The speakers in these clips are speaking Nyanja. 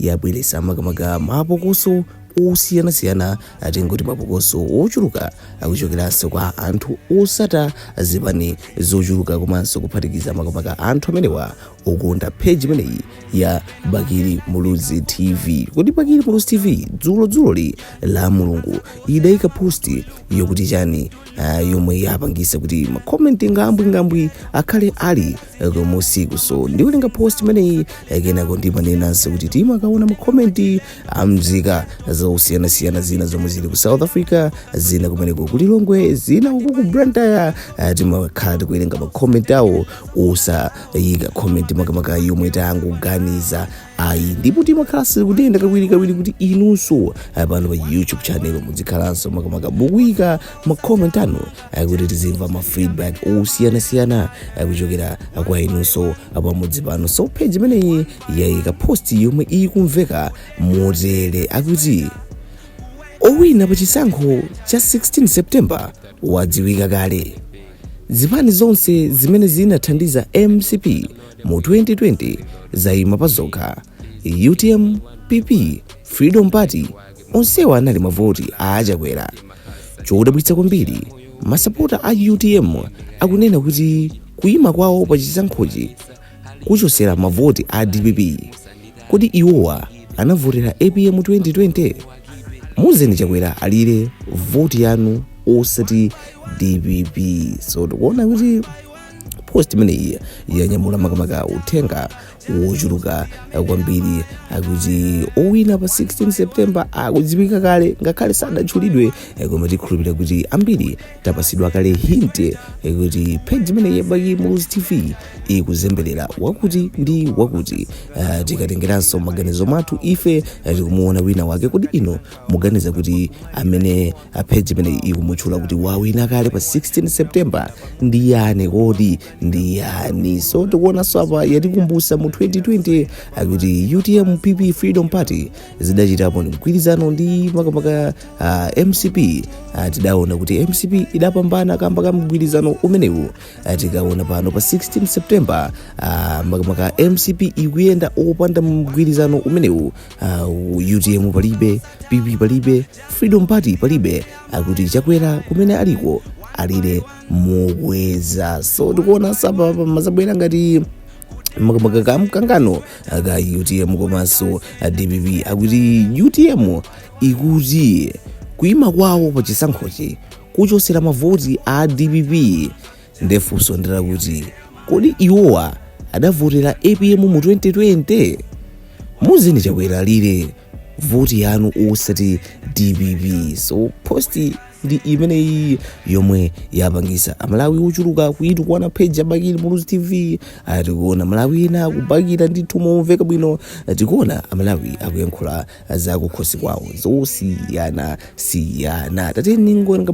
yabweretsa makamaka mapokoso osiyanasiyana, tingoti mapokoso ochuluka akuchokeranso kwa anthu osata zipani zochuluka komanso kuphatikiza makamaka anthu amenewa okonda page imeneyi ya Bakili Muluzi TV. Kodi Bakili Muluzi TV dzulo dzuloli la Mulungu idayika posti yokuti chani, ah, yomwe yapangisa kuti makomenti ngambwingambwi akhale ali eh, kumusiku so ndiwerenga post imeneyi eh, kenako ndimanenanso kuti timakaona makomenti a mzika zosiyanasiyana zina zomwe zili ku south africa zina kumeneko ku lilongwe zina uku ku Blantyre eh, timakhala tikuwerenga makomenti awo osayika komenti makamaka yomwe tangoganiza ayi ndipo timakhala tikunena kawiri kawiri kuti inunso eh, pano pa youtube channel muzikhalanso makamaka mukuyika makomenti anu eh, kuti tizimva ma feedback osiyanasiyana eh, kuchokera eh, kwa inunso eh, pamudzi pano so page imeneyi yayika post yomwe ikumveka motere akuti owina pa chisankho cha 16 september wadziwika kale zipani zonse zimene zinathandiza mcp mu 2020 zayima pa zokha utm pp freedom party Onsewa anali mavoti a achakwera. Chodabwitsa kwambiri masapota a utm akunena kuti kuima kwawo pa chisankhochi kuchosera mavoti a dpp. Kodi iwowa anavotera apm 2020? Muuzeni Chakwera alire voti yanu osati dpp. So tikuona kuti post imeneyi yanyamula makamaka uthenga wochuluka kwambiri akuti owina pa 16 september akudziwika kale ngakhale sadatchulidwe eh, koma tikhulupirira kuti ambiri tapasidwa kale hint eh, kuti page imeneyi ya Bakili Muluzi TV ikuzembelera wakuti ndi wakuti Eh, tikatengeranso maganizo mwathu ife eh, tikumuona wina wake kodi inu muganiza kuti amene ah, page imeneyi ikumutchula kuti wawina kale pa 16 september ndi yani kodi ndi yani so tikuonanso apa yatikumbusa mu 2020 akuti utm pp freedom party zidachitapo mgwirizano ndi makamaka uh, mcp uh, tidaona kuti mcp idapambana kamba ka mgwirizano umenewu uh, tikaona pano pa 16 september uh, makamaka mcp ikuyenda opanda mgwirizano umenewu uh, utm palibe pp palibe freedom party palibe akuti chakwera kumene aliko alire mokweza so tikuona apapa pamazabwera ngati makamaka mkangano ka utm komanso dpp akuti utm ikuti kuima kwawo pa chisankhochi kuchosera mavoti a dpp ndefunso ndi lakuti kodi iwowa adavotera apm mu 2020 muuzeni chakwera alire voti yanu osati dpp so post ndi imeneyi yomwe yapangisa amalawi ochuluka kuitukwana page ya bakili muluzi tv Ah, tikuona amalawi ena akubakira ndithu momveka bwino Ah, tikuona amalawi akuyankhula za kukhosi kwawo zosiyana siyana tatiyeni tingowerenga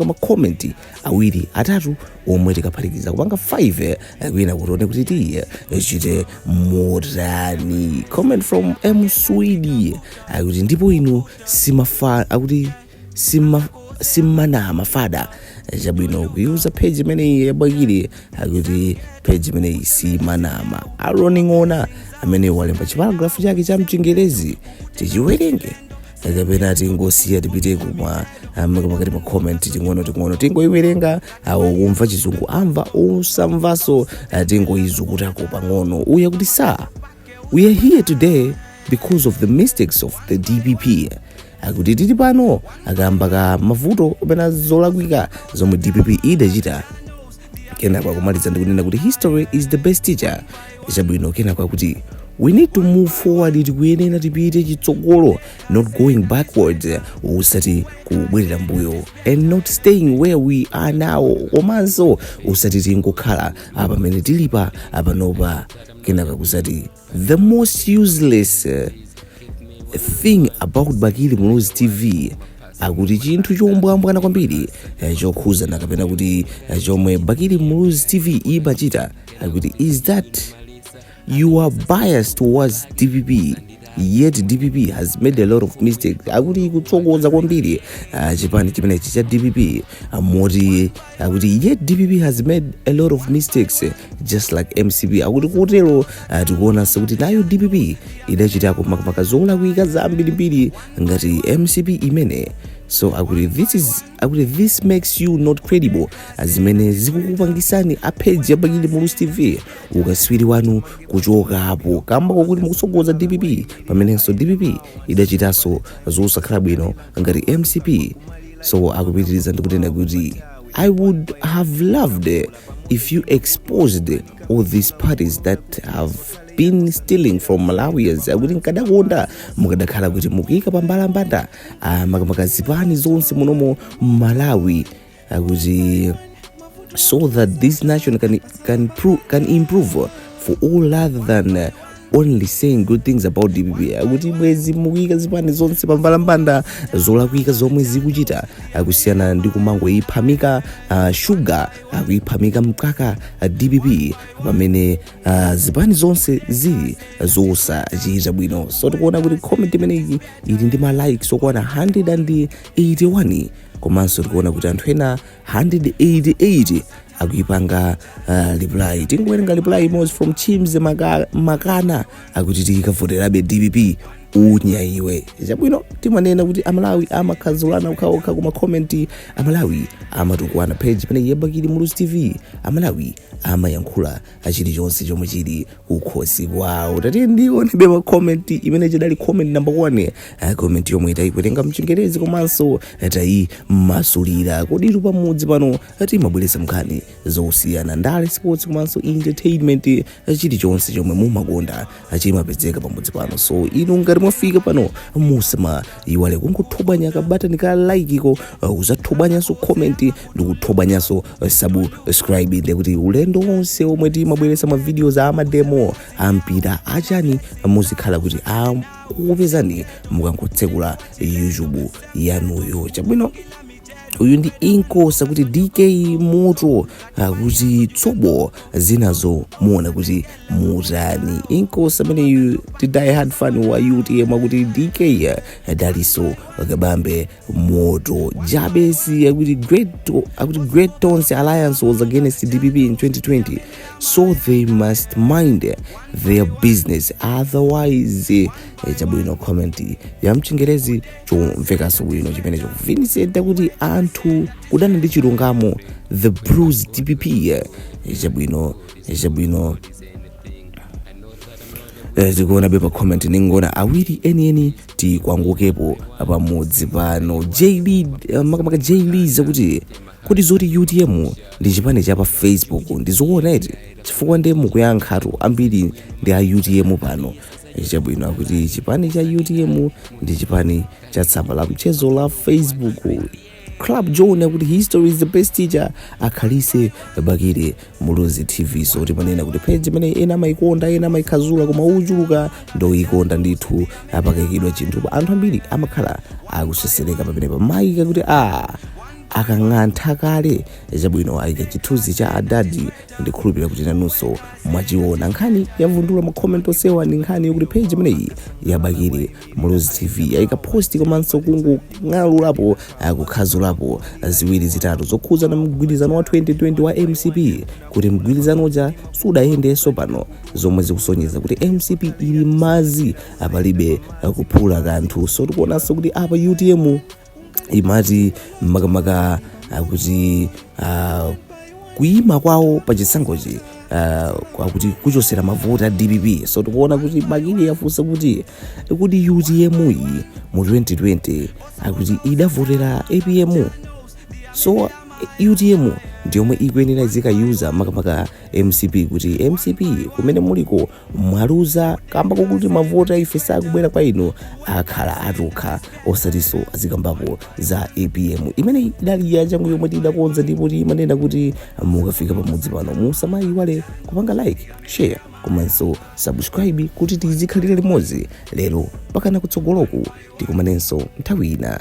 makomenti awiri atatu omwe tikaphatikiza kupanga 5 eh, kwina kuti tione kuti tichite motani comment from m swedi akuti ndipo inu akuti simanama fada Eh, chabwino kuiuza page imeneyi ya bakili akuti page imeneyi simanama aroni ng'ona amene walemba chiparagrafu chake cha mchingerezi tichiwerenge kapena tingosiya tipite kuma makamaka ma comment ting'ono ting'ono tingoiwerenga awo okumva chizungu amva osamvaso ah, tingoizukutako pang'ono uyu akuti so we are here today because of the mistakes of the dpp akuti tili pano kamba ka mavuto kapena zolakwika zomwe dpp idachita kenako akumaliza ndikunena kuti history is the best teacher chabwino kenako akuti we need to move forward tikuyenera tipite chitsogolo not going backwards osati kubwerera mbuyo and not staying where we are now komanso osati tingokhala apa pamene tilipa apanopa kenaka akuzati The most useless uh, thing about Bakili Muluzi TV akuti chinthu chombwambwana kwambiri eh, chokhuzana kapena kuti eh, chomwe Bakili Muluzi TV imachita akuti is that you are biased towards DPP yet DPP has made a lot of mistakes akuti ikutsogoza kwambiri ah, chipani chimenechi cha DPP ah, moti akuti yet dpp has made a lot of mistakes eh, just like mcp akuti kutero ah, tikuonanso kuti nayo dpp idachitako makamaka zolakwika zambirimbiri ngati mcp imene so akuti this is akuti this makes you not credible ah, zimene zikukupangisani a page ya bakili muluzi tv ukaswiri wanu kuchokapo kamba kokuti mukusogoza dpp pamenenso dpp idachitanso zosakhala bwino ngati mcp so akupitiriza ndikunena kuti i would have loved if you exposed all these parties that have been stealing from malawians akuti nkadakonda mukadakhala kuti mukuika pambalambanda ah, makamaka zipani zonse munomo mmalawi akuti so that this nation can, can, pro, can improve for all other than uh, only saying good things about dpp akuti bwezi mukuyika zipani zonse pambalambanda zolakwika zomwe zikuchita kusiyana ndi kumangoyiphamika uh, shuga akuyiphamika mkaka uh, dpp pamene uh, zipani zonse zili zosachita bwino so tikuona kuti comment imeneyi ili ndi malikes okwana 181 komanso tikuona kuti anthu ena 188 akuipanga uh, reply tingowerenga reply imodzi from chims Maka- makana akuti tikavoterabe dpp unya iwe chabwino timanena kuti amalawi amakhazulana okhaokha kuma comment amalawi amatukwana page imene ya bakili muluzi tv amalawi amayankhula a chilichonse chomwe chili kukhosi kwawo tatiye tionebe ma comment imene chidali comment number one Ah, comment yomwe tayiwerenga mchingerezi komanso tayimasulira koditu pamudzi pano timabweretsa nkhani zosiyana ndale sports komanso entertainment ah, chilichonse chomwe mumakonda chimapezeka pamudzi pano so inu ngati mwafika pano musamaiwale kungothobwanya kabatani ka likeko uh, uzathobwanyanso comment ndi kuthobwanyanso uh, subscribe ndekuti ulendo wonse omwe timabweretsa ma videos a mademo ampira achani muzikhala kuti akukupezani mukangotsekula youtube yanuyo chabwino uyu ndi inkosi akuti dk moto akuti tsobo zinazo muona kuti mutani inkosi ameneyu ndi die hard fan wa utm akuti dk dalitso kabambe moto jabesi akuti great akuti great tonse alliance was against dpp in 2020 so they must mind their business otherwise eh, chabwino comment yamchingerezi chomvekanso bwino chimenecho vincent akuti anthu kudana ndi chilungamo the blues dpp eh, chabwino eh, chabwino Eh, tikuonabe ma comment tingoona awiri enieni tikwangule pamudzi pano jb eh, makamaka jb akuti kodi zoti utm ndi chipani cha pa facebook ndi zoona eti chifukwa nde mukuyankhatu ambiri ndi a utm pano chabwino akuti chipani cha utm ndi chipani cha tsamba la mchezo la facebook club john akuti history is the best teacher akhalitse bakili muluzi tv so timanena kuti page imene ena amayikonda ena amayikhazula koma ochuluka ndoyikonda ndithu pakaikidwa chinthu anthu ambiri amakhala akusesereka pamenepa amayika kuti a akang'antha kale chabwino ayika chithunzi cha adadi ndikhulupirira kuti nanunso mwachiona nkhani yavundula ma comment osowa ndi nkhani yokuti page imeneyi ya bakili muluzi tv yayika post komanso kung'alulapo ah, kukhazulapo ziwiri zitatu zokhudza na mgwirizano wa 2020 wa mcp kuti mgwirizano uja sukuyendanso pano zomwe zikusonyeza kuti mcp ili mazi apalibe ah, kuphula kanthu so tikuonanso kuti apa utm imati makamaka akuti uh, kuyima kwawo pa chisankhochi uh, akuti kuchosera mavoti a dpp so tikuona kuti bakili yafunsa kuti kuti utm yi mu 2020 akuti idavotera apm so utm ndiyomwe ikuyenera izikayiuza makamaka mcp kuti mcp kumene muliko mwaluza kamba kokuti mavoti aife sakubwera kwa inu akhala atokha osatiso azikambapo za apm imeneyi idali ya changu yomwe tidakonza ndipo timanena kuti mukafika pamudzi pano musamayiwale kupanga like share komanso subscribe kuti tizikhalira limodzi lero pakana kutsogoloku tikumanenso nthawi ina